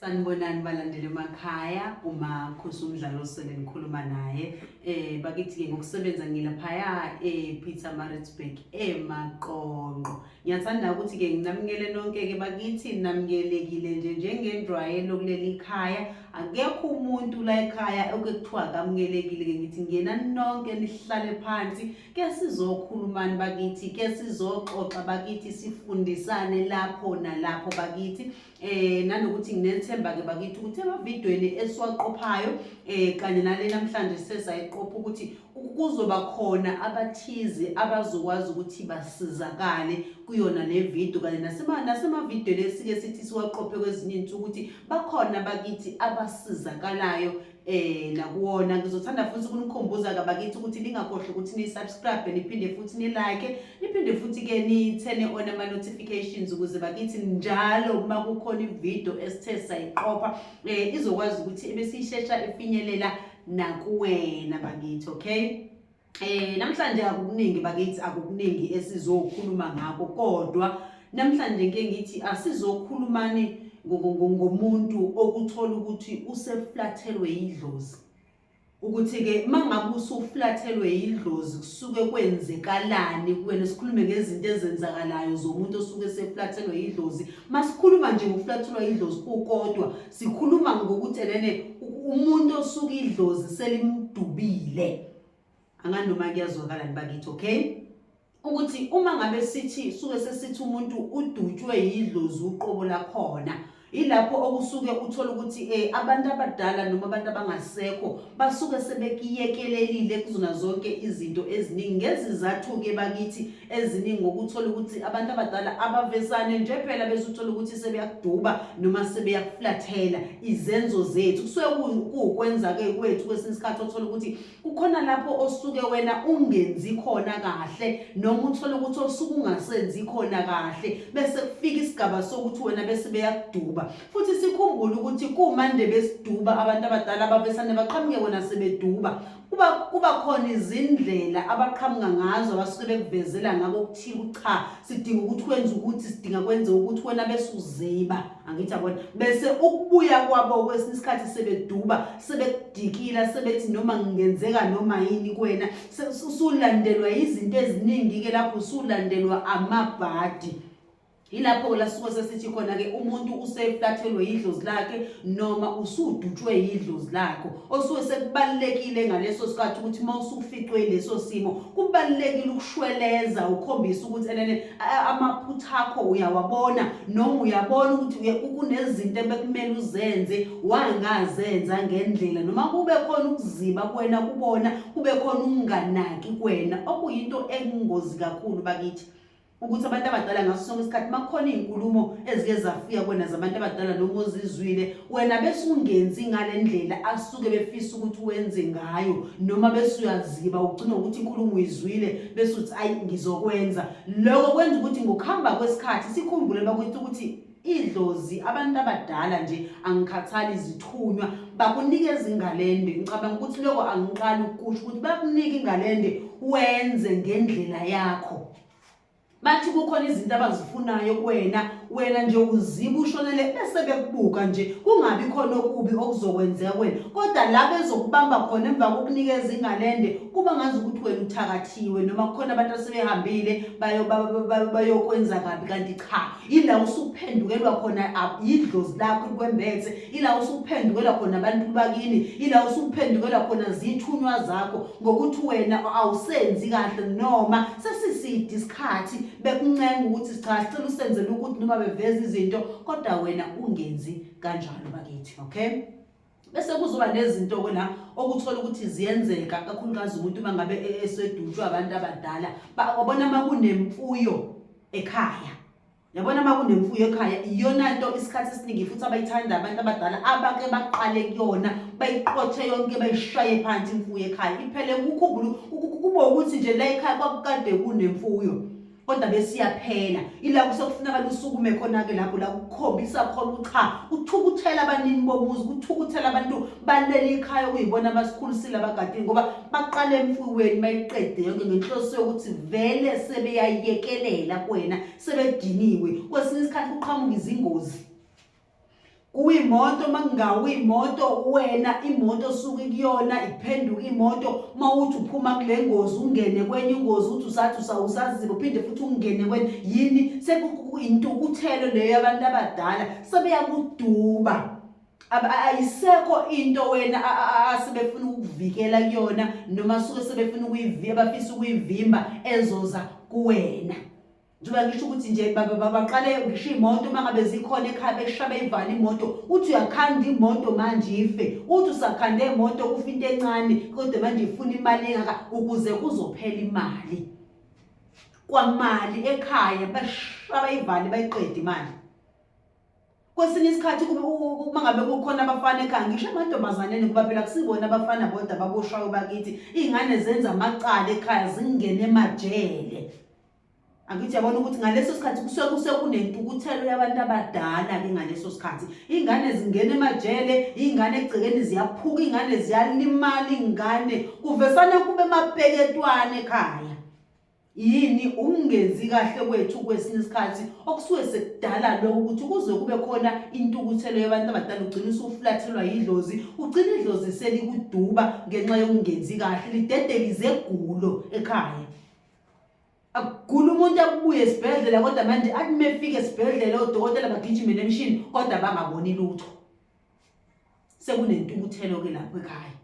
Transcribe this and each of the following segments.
Sanibonani balandeli emakhaya uma khosi umdlalo osele ngikhuluma naye eh bakithi-ke ngokusebenza ngilaphaya e-peter maritzburg emaqonqo ngiyathanda ukuthi-ke nginamukele nonke-ke bakithi namukelekile nje njengenjwayelo kuleli khaya akekho umuntu la ekhaya okuthiwa kamukelekile-ke ngithi ngena nonke nihlale phansi ke sizokhulumani bakithi ke sizoxoxa bakithi sifundisane lapho nalapho bakithi eh nanokuthi nginethemba ke bakithi ukuthi emavidweni esiwaqophayo eh kanye nale namhlanje sesayiqopha ukuthi kuzoba khona abathize abazokwazi ukuthi basizakale kuyona le video kanye nasemavidweni esike sithi siwaqophe kwezinye iy'nsuku ukuthi bakhona bakithi abasizakalayo eh nakuwona ngizothanda futhi ukunikhumbuza kabakithi ukuthi ningakhohlwa ukuthi ni-subscribe niphinde futhi ni-like niphinde futhi ke nithene ona ama-notifications ukuze bakithi njalo uma kukhona ividiyo esithe sayiqopha um izokwazi ukuthi ebesiyishesha ifinyelela nakuwena bakithi okay Eh namhlanje akukuningi bakithi akukuningi esizokhuluma ngakho kodwa namhlanje ngeke ngithi asizokhulumani ngomuntu okuthola ukuthi useflathelwe idlozi ukuthi ke mangabe usuflathelwe idlozi kusuke kwenzekalani kuwena sikhulume ngezinto ezenzakalayo zomuntu osuke seflathelwe idlozi masikhuluma nje ngokuflathelwa idlozi kukodwa sikhuluma ngokuthi enene umuntu osuke idlozi selimdubile anganoma kuyazwakala nibakithi okay ukuthi uma ngabe sithi suke sesithi umuntu udutshwe yidlozi uqobo lakhona ilapho okusuke uthola ukuthi eh abantu abadala noma abantu abangasekho basuke sebekiyekelelile kuzona zonke izinto eziningi ngezizathu ke bakithi eziningi ngokuthola ukuthi abantu abadala abavezane nje phela bese uthola ukuthi sebeyakuduba noma sebeyakuflathela izenzo zethu kusuke kuwukwenza-ke kwethu kwesinye isikhathi othola ukuthi kukhona lapho osuke wena ungenzi khona kahle noma uthole ukuthi osuke ungasenzi khona kahle bese kufika isigaba sokuthi wena bese beyakuduba futhi sikhumbule ukuthi kumande besiduba abantu abadala abavesane baqhamuke wena sebeduba kuba kuba khona izindlela abaqhamuka ngazo abasuke bekuvezela ngako okuthile ukuthi cha sidinga ukuthi wenze ukuthi sidinga kwenze ukuthi wena bese uziba angithi abona bese ukubuya kwabo kwesinye isikhathi sebeduba sebekudikila sebethi noma ngingenzeka noma yini kuwena usulandelwa izinto eziningi-ke lapho usulandelwa amabhadi yilapho-ke lasuke sesithi khona-ke umuntu useflathelwe yidlozi lakhe noma usudutshwe yidlozi lakho osuke sekubalulekile ngaleso sikhathi ukuthi uma usuficwe yileso simo kubalulekile ukushweleza ukhombisa ukuthi enene amaphutha akho uyawabona noma uyabona ukuthi kunezinto ebekumele uzenze wangazenza ngendlela noma kube khona ukuziba kuwena kubona kube khona ukunganaki kuwena okuyinto engozi kakhulu bakithi ukuthi abantu abadala ngaso sonke isikhathi makukhona iy'nkulumo ezike zafika kwena zabantu abadala noma ozizwile wena bese ungenzi ngale ndlela asuke befisa ukuthi wenze ngayo noma bese uyaziba ugcina ukuthi inkulumo uyizwile bese uthi ayi ngizokwenza loko kwenza ukuthi ngokuhamba kwesikhathi sikhumbule bakuthi ukuthi idlozi abantu abadala nje angikhathali izithunywa bakunika ezingalende ngicabanga ukuthi lokho angiqali ukusho ukuthi bakunika ingalende wenze ngendlela yakho bathi kukhona izinto abazifunayo kuwena wena nje uziba ushonele bese bekubuka nje kungabi khona okubi okuzokwenzeka wena kodwa la bezokubamba khona emva kokunikeza ingalende kuba ngazi ukuthi wena uthakathiwe noma kukhona abantu asebehambile bayokwenza kabi kanti cha ila usuphendukelwa khona yidlozi lakho kwembethe ila usuphendukelwa khona abantu bakini ila usuphendukelwa khona zithunywa zakho ngokuthi wena awusenzi kahle noma sesiside isikhathi bekuncenga ukuthi cha sicela usenzele ukuthi noma beveza izinto kodwa wena ungenzi kanjalo bakithi okay bese kuzoba nezinto-ke la okuthola ukuthi ziyenzeka kakhulukazi umuntu uma ngabe e-, esedutshwe abantu abadala wabona uma kunemfuyo ekhaya yabona uma kunemfuyo ekhaya iyona nto isikhathi esiningi futhi abayithanda abantu abadala abake baqale kuyona bayiqothe yonke bayishaye phansi imfuyo ekhaya iphele kukhumbula kuba ukuthi nje la ekhaya kwakukade kunemfuyo kodwa besiyaphela ila kusekufuneka lusukume khona-ke lapho la kukhombisa khona ukuthi cha kuthukuthela abanini bomuzi kuthukuthela abantu balele ikhaya okuyibona abasikhulisile abagadini ngoba baqale emfuyiweni bayiqede yonke ngenhloso yokuthi vele sebeyayekelela kwena sebediniwe kwesinye isikhathi kuqhamuka izingozi kuyimoto makungawu imoto wena imoto osuke kuyona iphenduka imoto uma uthi uphuma kule ngozi ungene kwenye ingozi uthi usathi usawusaziba uphinde futhi ungene kwenye yini sekuintukuthelo leyo yabantu abadala sebeyakuduba ayisekho into wena asebefuna ukukuvikela kuyona noma suke sebefuna ukuyivimba bafisa ukuyivimba ezoza kuwena njengoba ngisho ukuthi nje babaqale ngisho iy'moto uma ngabe zikhona ekhaya beshisha beyivale imoto uthi uyakhanda imoto manje ife uthi usakhande imoto ufa into encane kodwa manje ifuna imali engaka ukuze kuzophela imali kwamali ekhaya bashisha bayivale bayiqede imali kwesinye isikhathi uma ngabe kukhona abafana ekhaya ngisho emantombazaneni kuba phela kusibona abafana bodwa baboshwayo bakithi iy'ngane zenza amacala ekhaya zingene emajele angithi yabona ukuthi ngaleso sikhathi kusuke kusuke kunentukuthelo yabantu abadala-ke ngaleso sikhathi iy'ngane zingena emajele iy'ngane egcekeni ziyaphuka iy'ngane ziyalimala iy'ngane kuvesane kube mapeketwane ekhaya yini ukungenzi kahle kwethu kwesinye isikhathi okusuke sekudala lokho ukuthi kuze kube khona intukuthelo yabantu abadala ugcina usuflathelwa yidlozi ugcina idlozi selikuduba ngenxa yokungenzi kahle lidedelize egulo ekhaya akugula umuntu akubuye esibhedlela kodwa manje athi mefika esibhedlela odokotela bagijime nemishini kodwa bangaboni lutho sekunentukuthelo ke lapho ekhaya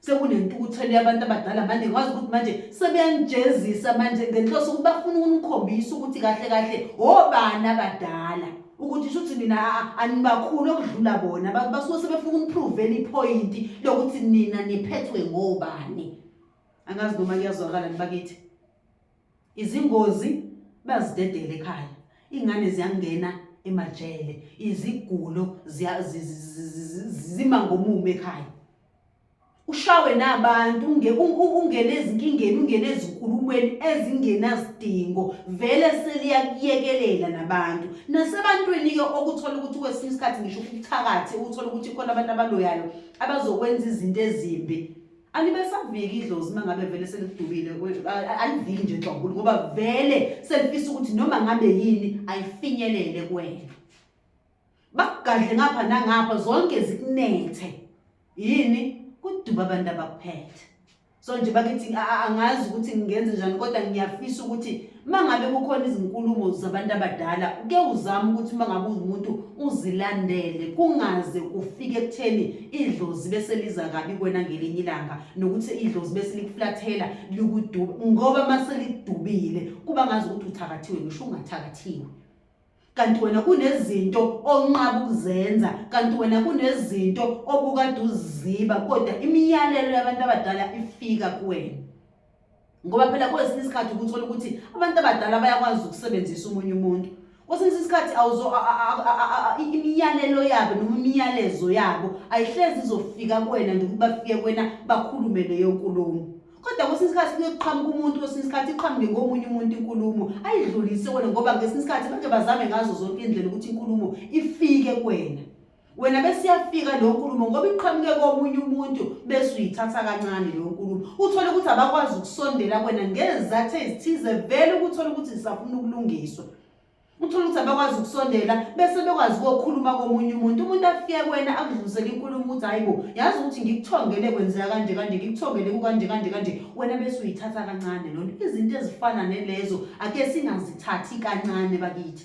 sekunentukuthelo yabantu abadala manje ngikwazi ukuthi manje sebeyanijezisa manje ngenhloso ukuthi bafuna ukunikhombisa ukuthi kahle kahle obani abadala ukuthi shuthi nina anibakhulu okudlula bona basuke sebefuna ukuprove iphoyinti lokuthi nina niphethwe ngobani angazi noma kuyazwakala nibakithi izingozi bazidedele ekhaya ingane ziyangena emajele izigulo zima ngomumo ekhaya ushawe nabantu ungene ezinkingeni ungene ezinkulumweni ezingenasidingo vele seliyakuyekelela nabantu nasebantwini-ke okuthola ukuthi kwesinye isikhathi ngisho ukuthakathi ukuthola ukuthi khona abantu abaloyayo abazokwenza izinto ezimbi alibesaviki idlozi uma ngabe vele selidubile aliviki nje nhlobo ngoba vele selifisa ukuthi noma ngabe yini ayifinyelele kwena bakugadle ngapha nangapha zonke zikunethe yini kuduba abantu abakuphethe so nje bakithi angazi ukuthi ngingenze njani kodwa ngiyafisa ukuthi uma ngabe kukhona izinkulumo zabantu abadala uke uzame ukuthi uma ngabe umuntu uzilandele kungaze kufike ekutheni idlozi bese liza kabi kwena ngelinye ilanga nokuthi idlozi bese likuflathela likuduba ngoba uma selidubile kuba ngazi ukuthi uthakathiwe ngisho ungathakathiwe kanti wena kunezinto onqaba ukuzenza kanti wena kunezinto obukade uziziba kodwa imiyalelo yabantu abadala ifika kuwena ngoba phela kwesinye isikhathi ukuthola ukuthi abantu abadala bayakwazi ukusebenzisa umunye umuntu kwesinye isikhathi imiyalelo yabo noma imiyalezo yabo ayihlezi izofika kuwena nje ukuthi bafike kuwena bakhulume leyo nkulumo kodwa kwesinye isikhathi kuyoqhamuka umuntu kwesinye isikhathi iqhamuke ngomunye umuntu inkulumo ayidlulise kuwena ngoba ngesinye isikhathi bake bazame ngazo zonke indlela ukuthi inkulumo ifike kuwena wena besiyafika leyo nkulumo ngoba iqhamuke komunye umuntu bese uyithatha kancane leyo nkulumo uthole ukuthi abakwazi ukusondela kwena ngezizathu ezithize vele ukuthole ukuthi zisafuna ukulungiswa uthole ukuthi abakwazi ukusondela bese bekwazi kokhuluma komunye umuntu umuntu afike kwena akudlulisele inkulumo ukuthi hayi bo yazi ukuthi ngikuthongele kwenzeka kanje kanje ngikuthongele kukanje kanje kanje wena bese uyithatha kancane lona izinto ezifana nelezo ake singazithathi kancane bakithi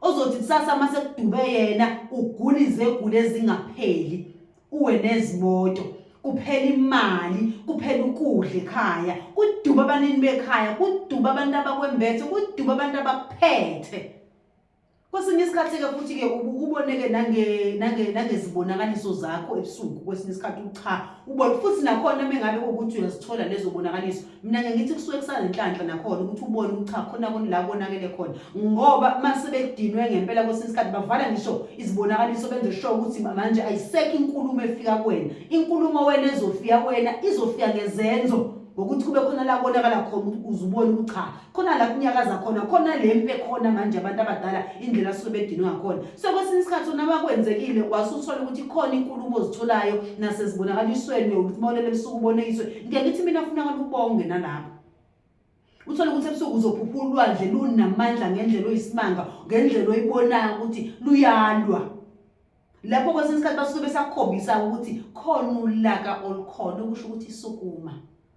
ozothi kusasa uma sekudube yena ugula izegula ezingapheli uwe nezimoto kuphela imali kuphela ukudla ekhaya kuduba abanini bekhaya kuduba abantu abakwembethe kuduba abantu abakuphethe kwesinye isikhathi-ke futhi-ke uboneke nangezibonakaliso zakho ebusuku kwesinye isikhathi ucha ubone futhi nakhona mengabe ukuthi uyazithola lezobonakaliso mina ngiye ngithi kusuke kusazinhlanhla nakhona ukuthi ubone ukuthi cha khona koni la konakele khona ngoba uma sebedinwe ngempela kwesinye isikhathi bavala ngisho izibonakaliso benze sho ukuthi manje ayisekho inkulumo efika kuwena inkulumo wena ezofika kuwena izofika ngezenzo ngokuthi kube khona la konakala khona ukuthi uzubone ukuthi cha khona la kunyakaza khona khona le mpe khona manje abantu abadala indlela asuke bedinwe ngakhona so kwesinye isikhathi unaba kwenzekile wasuthola ukuthi khona inkulumo ozitholayo nasezibonakalisweni ukuthi mawulele ebusuku ubone iswe ngeke ngithi mina funa abantu ubonge nalapho uthole ukuthi ebusuku uzophuphula ulwandle lunamandla ngendlela oyisimanga ngendlela oyibonayo ukuthi luyalwa lapho kwesinye isikhathi basuke besakhombisa ukuthi khona ulaka olukhona okusho ukuthi isukuma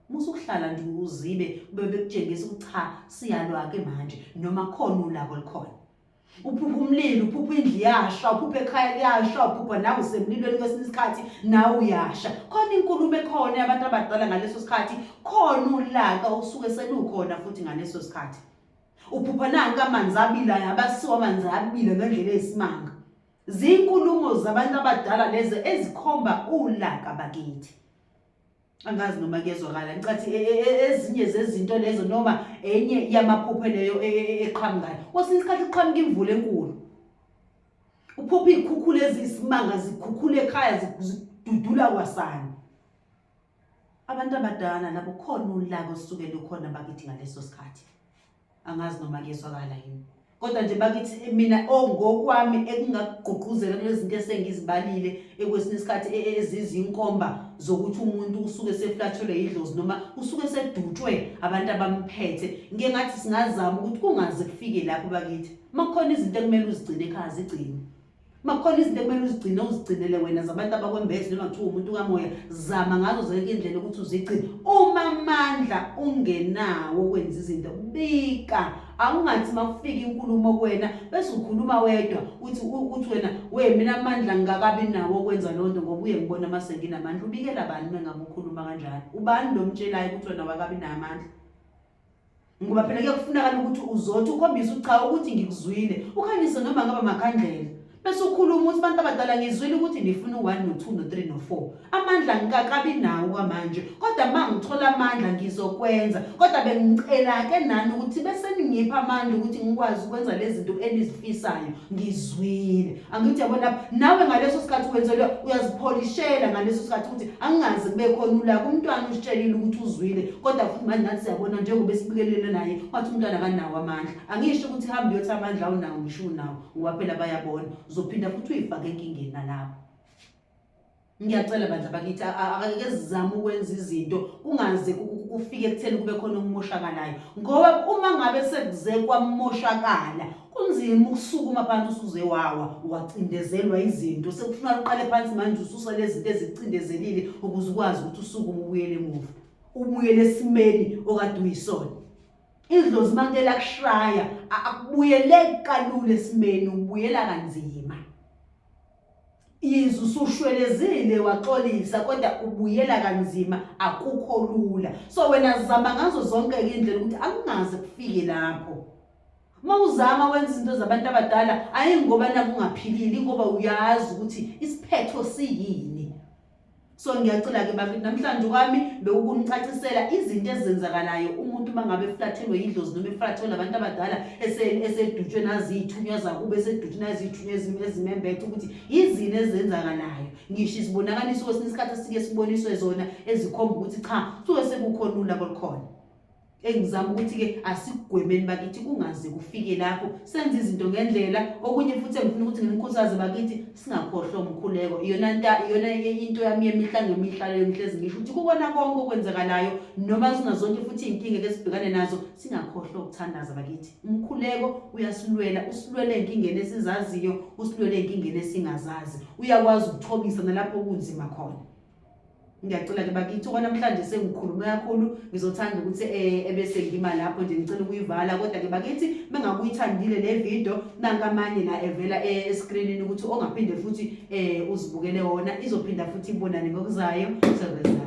musukuhlala nje uzibe kube bekutshengisa ukuthi cha siyalwa-ke manje noma khona ulaka olukhona uphupha umlilo uphupha indlu iyasha uphupha ekhaya liyasha uphupha nawe usemlilweni kwesinye isikhathi nawe uyasha khona inkulumo ekhona yabantu abadala ngaleso sikhathi khona ulaka osuke selukhona futhi ngaleso sikhathi uphupha nanka amanzi abilayo abasiwa amanzi abile ngendlela eyisimanga Zinkulumo zabantu abadala lezi ezikhomba ulaka bakithi. Angazi noma kuyezwakala ngicathi e, e, e, ezinye zezinto lezo noma enye yamaphupho leyo eqhamukayo. Kwesinye isikhathi kuqhamuka imvula enkulu. Uphupha izikhukhula ezisimanga zikhukhula ekhaya zidudula kwasani. Abantu abadala labo khona ulaka osuke lukhona bakithi ngaleso sikhathi. angazi noma kuyezwakala yini kodwa nje bakithi eh, mina ongokwami oh, ekungagqugquzela kulezinto esengizibalile ekwesinye isikhathi e, e, ezizinkomba zokuthi umuntu usuke seflatshelwe idlozi noma usuke sedutshwe abantu abamphethe ngike ngathi singazama ukuthi kungaze kufike lapho bakithi makukhona izinto ekumele uzigcine ekhaya zigcine makukhona izinto ekumele uzigcine uzigcinele wena zabantu abakwembezi noma kuthiwa umuntu kamoya zama ngazo zonke indlela ukuthi uzigcine uma amandla ungenawo okwenza izinto bika awungathi makufika inkulumo kuwena bese ukhuluma wedwa uthi uthi wena we mina amandla ngingakabi nawo okwenza loo nto ngoba uye ngibona uma senginamandla ubikela bani uma ngabe ukhuluma kanjalo ubani lo mtshelayo ukuthi wena wakabi namandla ngoba phela ke kufunakala ukuthi uzothi ukhombise ucha ukuthi ngikuzwile ukhanyise noma ngaba makhandlela bese ukhuluma ukuthi abantu abadala ngizwile ukuthi ngifuna u-one no-two no-three no-four amandla ngikakabi nawo kwamanje kodwa ma ngithola amandla ngizokwenza kodwa bengicela-ke nani ukuthi beseningipha amandla ukuthi ngikwazi ukwenza lezi zinto enizifisayo ngizwile angithi yabona lapha nawe ngaleso sikhathi wenzelwe uyazipholishela ngaleso sikhathi ukuthi angingazi kube khona ulaka umntwana usitshelile ukuthi uzwile kodwa futhi manje nathi siyabona njengoba esibikelele naye wathi umntwana akanawo amandla angisho ukuthi hambe uyothi amandla awunawo ngisho unawo ngoba phela bayabona uzophinda futhi uyifake enkingeni nalapho ngiyacela bandla bakithi akake sizame ukwenza izinto kungaze kufike ekutheni kube khona okumoshakalayo ngoba uma ngabe sekuze kwamoshakala kunzima ukusukuma phansi usuze wawa wacindezelwa izinto sekufuna uqale phansi manje ususa lezi zinto ezicindezelile ukuze ukwazi ukuthi usukume ubuyele emuva ubuyele esimeni okade uyisona idlozi manje lakushaya akubuyeleki kalula esimeni ubuyela kanzima yize usushwelezile waxolisa kodwa ubuyela kanzima akukho lula so wena zama ngazo zonke indlela ukuthi akungaze kufike lapho uma uzama wenza izinto zabantu abadala ayi ngoba nakungaphilile ingoba uyazi ukuthi isiphetho siyini so ngiyacela ke bakithi namhlanje kwami bewukungicacisela izinto ezenzakalayo umuntu uma ngabe eflathelwe yidlozi noma eflathelwe abantu abadala esedutshwe naziyithunywa zakubo esedutshwe naziyithunywa ezimembethe ukuthi yizini ezenzakalayo ngisho izibonakaliso kwesinye isikhathi esike siboniswe zona ezikhomba ukuthi cha suke sekukhona ulabo lukhona engizama ukuthi-ke asikugwemeni bakithi kungaze kufike lapho senze izinto ngendlela okunye futhi engifuna ukuthi ngimkhuthaze bakithi singakhohlwa umkhuleko iyona nta iyona into yami yemihla ngemihla leyo ngihlezi ngisho ukuthi kukona konke okwenzakalayo noma zinazonke futhi iy'nkinga ke sibhekane nazo singakhohlwa ukuthandaza bakithi umkhuleko uyasilwela usilwela ey'nkingeni esizaziyo usilwela ey'nkingeni esingazazi uyakwazi ukuthobisa nalapho kunzima khona ngiyacela ke bakithi okwanamhlanje sengikhulume kakhulu ngizothanda ukuthi eh, ebese ngima lapho nje ngicela ukuyivala kodwa ke bakithi mengakuyithandile le video nankamanye la evela eh, escreenini ukuthi ongaphinde futhi eh, uzibukele wona izophinda futhi ibonane ngokuzayo sebenzayo